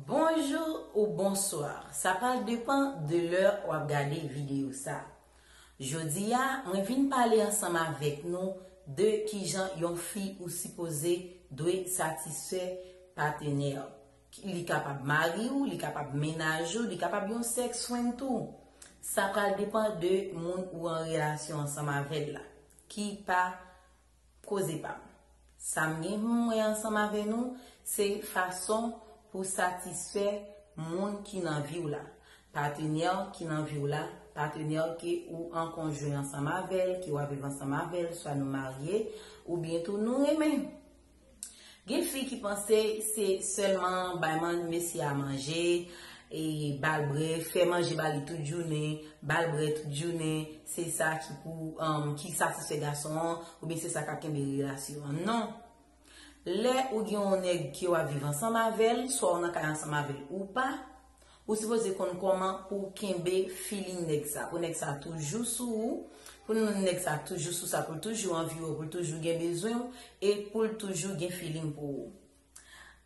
Bonjou ou bonswa, sa pral depan de lè wap gade videyo sa. Jodi a, mwen vin pale ansanm avèk nou de kijan yon fi ou sipoze dwe satisfè patenè'w. Li kapab mari ou, li kapab mennaj ou, li kapab yon sex friend tou. Sa pral depan de moun ou an relasyon ansanm avèl la. Ki pa koze pam. Sam gen humm mwen ansanm avè nou se fason pou satisfè moun ki nan viw la. Patenèw ki nan viw la, patenèw ke ou an konjwen ansanm avèl, ke wap viv ansanm avèl, swa nou marye, oubyen tou nou renmen. Gen fi ki panse se sèlman bay man mesye a manje, e bal brè, fè manje ba li tout jounen, bal brè tout jounen, se sa ki pou, ki satisfè gason an, oubyen se sa kap kenbe relasyon an. Non! Lè ou gen yon nèg ke wap viv ansanm avèl, swa ou nan kay ansanm avèl ou pa, Ou sipoze konn koman pouw kenbe feeling nèg sa, pou nèg sa toujou sou ou, pou nèg sa toujou sou sa, poul toujou anvi ou, poul toujou gen bezwenw e poul toujou gen feeling pou ou.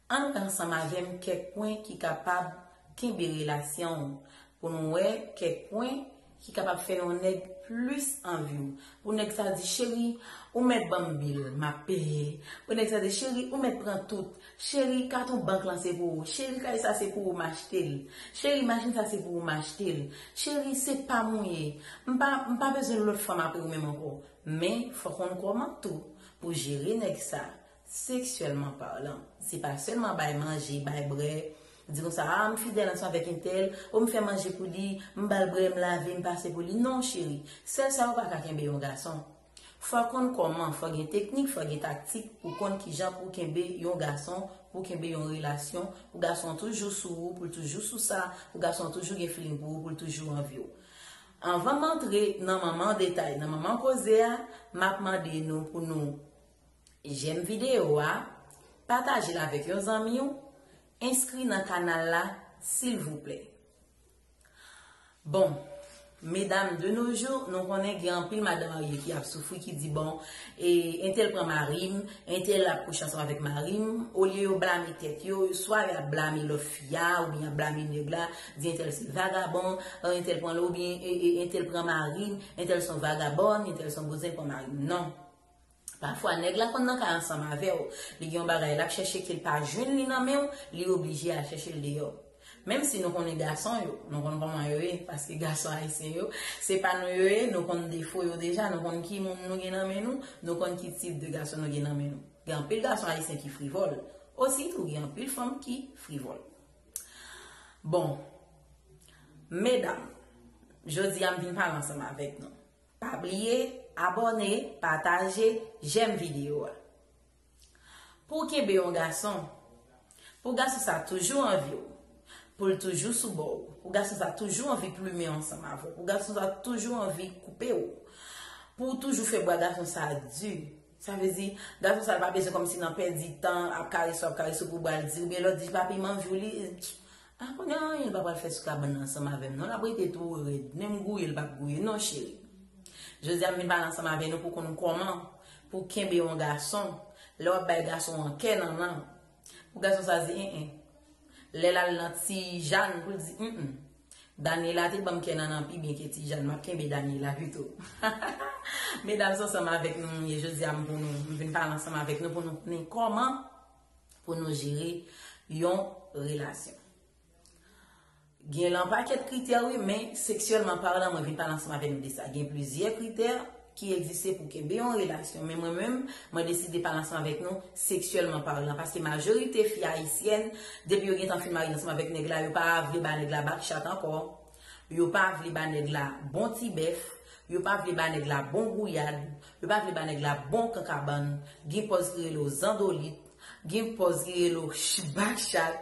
Ann gad ansanm avèm kèk pwen ki kapab kenbe relasyonw pou nou wè kèk pwen ki kapab fè yon nèg plis anvi w pou nèg sa di cheri ou mèt ban m bil m ap peye pou nèg sa di cheri ou mèt pran tout cheri katon bank lan se pou ou cheri kay sa se pou ou m achte l cheri machin sa se pou ou m achte l cheri se pa m ou ye m pa m pa bezwen lòt fanm apre ou menm ankò men fò w konn kòman tou pou jere nèg sa Seksyèlman palan. Se pa sèlman bay manje, bay brè, di konsa ah m fidèl ansanm avèk entèl, oh m fè manje pou li, m ba l brè, m lave, m pase pou li. Non cheri, sèl sa yo pa ka kenbe yon gason. Fò w konn kòman, fò w gen teknik, fò w gen taktik pou w konn kijan pou w kenbe yon gason, pou w kenbe yon relasyon, pou gason an toujou sou ou, pou l toujou sou sa, pou gason an toujou gen feeling pou ou, pou l toujou anvi w. Anvan m antre nan manman detay, nan manman koze a, m ap mande nou pou nou Jèm video a, patajel avèk yon zanmiw, enskri nan kanal la silvouplè. Bon Medam de nos jours nou konnen gen anpil madan marye ki ap soufri ki di bon e entèl pran marim, entèl ap kouche ansanm avèk marim, olye yo blame tèt yo, swa yo ap blame lòt fi a oubyen yap blame nèg la, di entèl se vagabon, entèl pranl oubyen entèl pran marim, entèl son vagabòn, entèl son bouzen pran marim. Non! Pafwa nèg la konn nan kay ansanm avèw, li gen yon bagay lap chèche kel pa jwenn li nan menw, li oblije al chèchel deyò. Menm si nou konnen gason yo, nou konn kòman yo ye, paske gason ayisyen yo, se pa nou yo ye, nou konn defo yo deja, nou konn ki moun nou gen nan men nou, nou konn ki tip de gason nou gen nan men nou. Gen anpil gason ayisyen ki frivòl, osi tou gen anpil fanm ki frivòl. Bon, medam, jodi a m vin pale ansanm avèk nou. Pa bliye abòne, pataje, jèm video a. Pou w kenbe yon gason, pou gason sa toujou anvi w, pou l toujou sou bò w, pou gason sa toujou anvi plumen ansanm avè w, pou gason sa toujou anvi koupe w, pou w toujou fè bwa gason sa di, sa vle di gason sa pa bezwen kòmsi nan pèdi tan ap karese w ap karese w pou bwa l di oubyen lè w di papi m anvi w li Ah pa gen anyen l pa pral fè sou kabann nan ansanm avè m non l ap rete tou rèd menm gouye l pap gouye non cheri Jodi a m vin pale ansanm avè nou pou konn kòman pou w kenbe yon gason lè w ap bay gason an kè nannan pou gason sa di en en lè l al nan ti Jàn pou l di en en Daniela te ban m kè nannan pi byen ke ti Jàn m ap kenbe Daniela pito hahaha Medam s ansanm avèk nou m ye Jodi a m pou nou m vin pale ansanm avèk nou pou nou konnen kòman. pou nou jere yon relasyon. Gen lan pakèt kritè wi, men seksyèlman paran mwen vin pale ansanm avè nou de sa. Gen plizyè kritè ki egziste pou kenbe yon relasyon, men mwen menm mwen deside pale ansanm avèk nou seksyèlman paran. Paske majorite fi ayisyèn depi yo gentan fin marye ansanm avèk nèg la yo pa vle ba nèg la bak chat ankò. Yo pa vle ba nèg la bon ti bèf, yo pa vle ba nèg la bon gouyad, yo pa vle ba nèg la bon kankabann, gen pòz ki rele w zandolit, gen pòz ki rele w chbachat,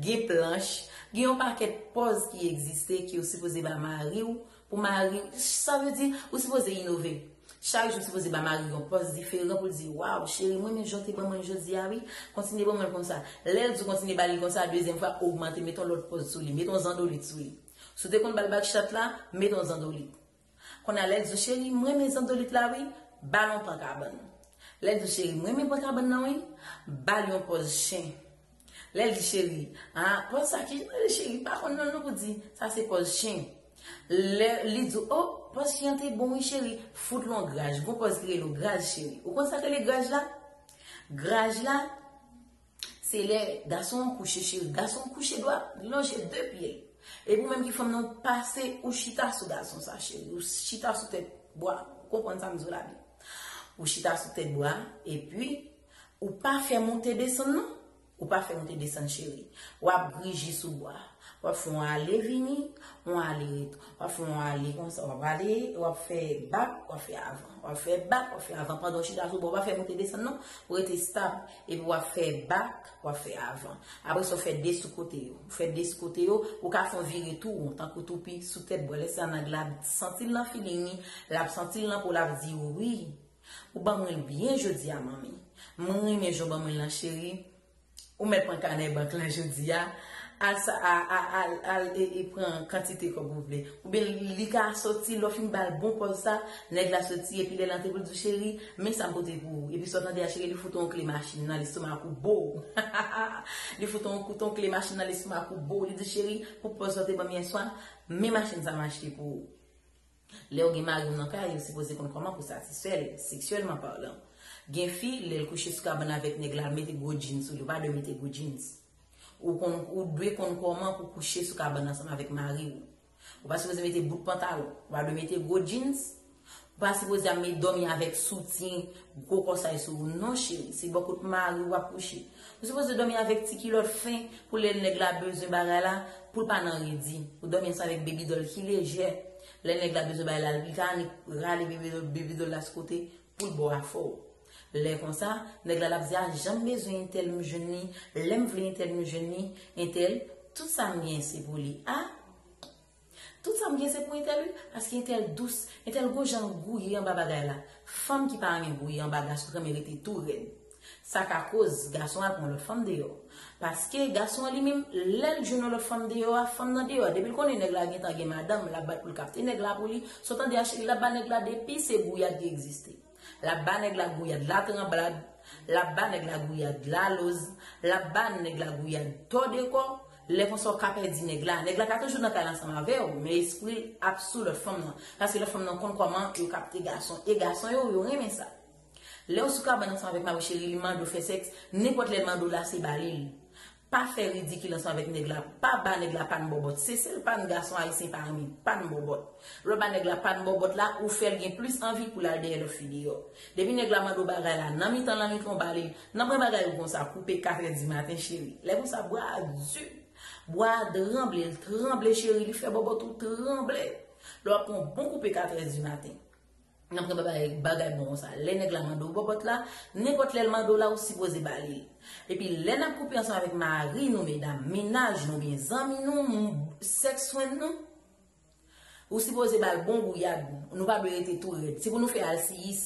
gen planch, gen yon pakèt pòz ki egziste ki ou sipoze ba mari w pou mari w, sa vle di ou sipoze inove. Chak jou sipoze ba mariw yon pòz diferan poul di waw cheri mrenmen janw te ban mwen jodia wi kontinye ban mwenl konsa lèl diw kontinye bali konsa dezyèm fwa ogmante met yon lòt pòz sou li met yon zandolit sou li si w te konn bal bakchat la met yon zandolit konnya lèl diw cheri mrenmen zandolit la wi bal yon pan kabann lèl diw cheri mrenmen pan kabann nan wi bal yon pòz chen Lèl di cheri a pòz sa kijan rele cheri pa konn non nou pou di sa se pòz chen lè li di oh pòz chen an te bon wi cheri fout lon graj gon pòz ki rele graj cheri ou konn sak rele graj la graj la se lè gason an kouche cheri gason an kouche dwa li lonje de pyel epi ou menm ki fanm nan ou pase ou chita sou gason sa cheri ou chita sou tèt bwa ou konprann sam diw la byen ou chita sou tèt bwa epi. Ou pa fè monte desann non. Ou pa fè monte desann cheri. W ap grije sou bwa. W ap fè yon ale vini, yon ale ret. W ap fè yon ale konsa, w ap ale, w ap fè bak, w ap fè avan. W ap fè bak, w ap fè avan pandan w chita sou bwa. Ou pa fè monte desann non. Ou rete estab. Epi w ap fè bak, w ap fè avan. Apre sa, ou fè de sou kote yo. Ou fè de sou kote yo. Ou ka fè yon vire tou won, tankou toupi, sou tèt bwa. Lè sa nag la ap santi l nan filing li. L ap santi l nan po l ap di wi. Ou banm ri byen jodia manmi. M renmen jan w banm ri lan cheri Ou mèt pran kanè bank lan jodia Al sa al e pran kantite kòb ou vle Oubyen li ka soti lè w fin ba l bon pòz sa Nèg la soti epi lè l antre pou l di w cheri Men sa m pote pou ou Epi sa w tande a cheri li fout ou yon kle machin nan lestomak ou boo Hahahaa Li fout ou yon kout yon kle machin nan lestomak ou boo Li di w cheri pou pòz sa w te ban m yèswa Men machin sa m achte pou ou. Lèw gen mariw nan kay ou sipoze konn kòman pou satisfèl seksyèlman parlan. Gen fi lèl kouche sou kabann avèk nèg la mete gwo djin sou li ou pa dwe mete gwo djins. Ou konn ou dwe konn kòman pou kouche sou kabann ansanm avèk mariw. Ou pa sipoze mete bout pantalon, ou pa dwe mete gwo djins, ou pa sipoze ap met dòmi avèk soutyen gwo kòsay sou ou non cheri, se bò kot mariw wap kouche. Ou sipoze domi avek ti kilot fen pou le neg la bezwen bagay la poul pa nan redi. Ou domi ansanm avek baby doll ki lejè. Le neg la bezwen bay lal li ka annik rale baby doll la sou kote poul bo afè w. Le konsa neg la lap di a janm bezwen entèl m jwenn li, lem vle entèl m jwenn li, entèl tout sam gen se pou li a. Tout sa m gen se pou Ethel wi paske Ethel dous, Ethel gon jan l gouye anba bagay la, fanm ki pa renmen gouye anba gason t renmen rete tou rèd sa ka koz gason al pran yon lòt fanm deyò paske gason an li menm lè l jwenn yon lòt fanm deyò a fanm nan deyò depi l konnen nèg la gentan gen madanm lap bat pou l kapte nèg la pou li so tande a cheri lap ba nèg la depi se gouyad ki egziste. Lap ba nèg la gouyad latranblad, lap ba nèg la gouyad laloz, lap ba nèg la gouyad tò de kò, lè konsa ou ka pèdi nèg la. Nèg la ka toujou nan kay la ansanm avè ou, men espri l ap sou lòt fanm nan, paske lòt fanm nan konn kòman yo kapte gason, e gason yo, yo renmen sa. Lè ou sou kabann ansanm avèk mari cheri li mande ou fè sèks, nenpòt lè l mande ou la se ba li l. Pa fè ridikil ansanm avèk nèg la, pa ba nèg la pann bòbòt. Se sèl pann gason ayisyen pa renmen, pann bòbòt. Lè w ba nèg la pann bòbòt la, ou fè l gen plis anvi pou l al dèyè lòt fi deyò. Depi nèg la mande w bagay la, nan mitan lannwit lan w ba li l, nan pran bagay ou konsa, koupe katrè dimaten cheri. Lè konsa bwa a di, bwa a tranble, l tranble cheri, li fè bòbòt ou tranble. Lè w ap pran yon bon koupe katrè dimaten. Nan pran bagay bagay bon konsa. Lè nèg la mande w bòbòt la, nenpòt lè l mande w la ou sipoze ba li l. Epi lè n ap koupe ansanm avèk mari nou medam, mennaj nou oubyen zanmi nou, sèks fwend nou, ou sipoze ba l bon gouyad. Nou pa dwe rete tou rèd. Se pou nou fè alsiyis.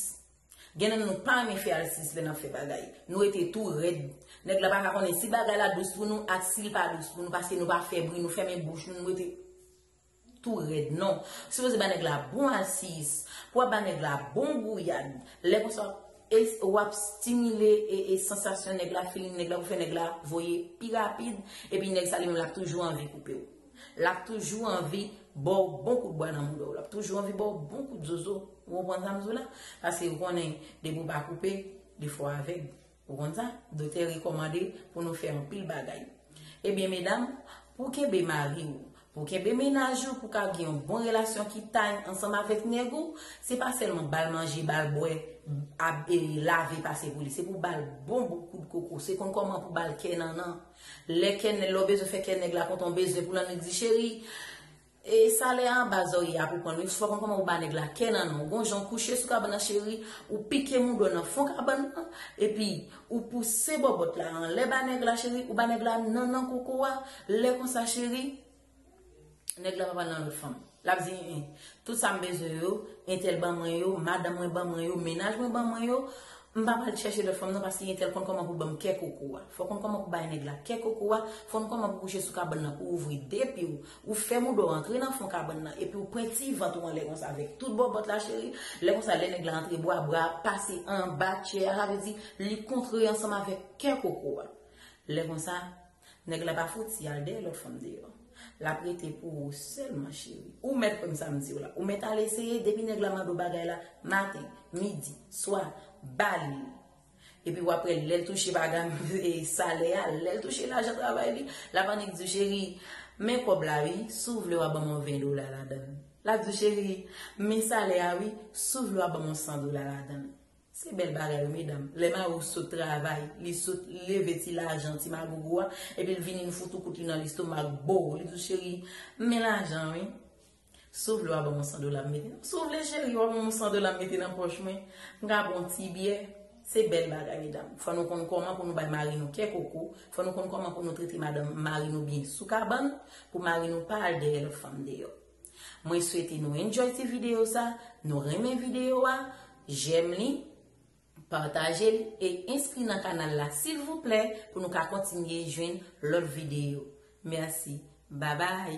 Gen nan nou pa renmen fè alsiyis lè n ap fè bagay. Nou rete tou rèd. Nèg la pa ka konnen si bagay la dous pou nou ak si l pa dous pou nou paske nou pa fè bri, nou fèmen bouch nou, nou rete. tou rèd non. Ou sipoze ba nèg la bon asis, pou wap ba nèg la bon gouyad, lè konsa wap stimile e sansasyon nèg la, feeling nèg la pou fè nèg la voye pi rapid, epi nèg sa li menm lap toujou anvi koupew. Lap toujou anvi baw bon kout bwa nan moudaw, lap toujou anvi baw bon kout zozo, ou konprann sa mdou la? Paske ou konnen depi ou pa koupe, li fò avèg. Ou konn sa? Doktè rekòmande pou nou fè anpil bagay. Ebyen medam, pou w kenbe mari w, pou w kenbe mennaj ou, pou w ka gen yon bon relasyon ki tany ansanm avèk nèg ou, se pa sèlman ba l manje, ba l bwè, lave pase pou li. Se pou w ba l bon bout kout koko. Se konn kòman pou w ba l kè nannan. Lè kè, lè w bezwen fè kè nèg la kontan, w bezwen pou l annik di, cheri, E salè a anba zòrye a pou konn wi, soupa konn kòman ou ba nèg la kè nan non, ou gon jan ou kouche sou kabann nan cheri, ou pike moudon nan fon kabann nan, epi ou pouse bòbòt la anlè ba nèg la cheri, ou ba nèg la nan nan koko a, lè konsa cheri, nèg la pa pral nan lòt fanm, lap di en en, tout sa m bezwen yo, entèl ban mwen yo, madanm mwen ban mwen yo, mennaj mwen ban mwen yo, m pa pral chèche lòt fanm nan paske entèl konn kòman pou banm kè koko a, fò konn kòman pou bay nèg la kè koko a, fò konn kòman pou kouche sou kabann nan pou ouvri de pye w, Ou fè mouda w antre nan fon kabann nan epi w pwen ti vant ou anlè konsa avèk tout bòbòt la cheri, lè konsa lè nèg la antre bwa bra ap pase anba tchè a sa vle di li kontre ansanm avèk kè koko a. Lè konsa nèg la pa fouti al dèyè lòt fanm deyò. Lap rete pou ou sèlman cheri. Ou mèt konn sa m di w la. Ou mèt al eseye depi nèg la mande w bagay la maten, midi, swa, ba li l. Epi wap wè lèl touche bagam e salè a lèl touche lajan travay li lap annik diw cheri men kòb la wi si w vle wa banm on 20 dola ladann lap diw cheri men salè a wi si w vle wa banm on 100 dola ladann se bèl bagay wi medam lè mari w sot travay li sot leve ti lajan ti magogo a epi l vini l fout ou kout li nan lestomak boo li diw cheri men lajan wi. Si w vle wa banm yon 100 dola m mete nan. Si w vle cheri wa banm yon 100 dola m mete nan pòch mwen. M ka bon ti byè. Se bèl bagay medam. Fò nou konn kòman pou nou bay mari nou kè koko. Fò nou konn kòman pou nou trete madanm mari nou byen sou kabann. Pou mari nou pa al dèyè lòt fanm deyò. Mwen swete nou enjoy ti video sa. Nou renmen video wa. Jèm li. Pataje l e enskri nan kanal la silvouplè pou nou ka kontinye jwenn lòt videyo. Merci. Babay!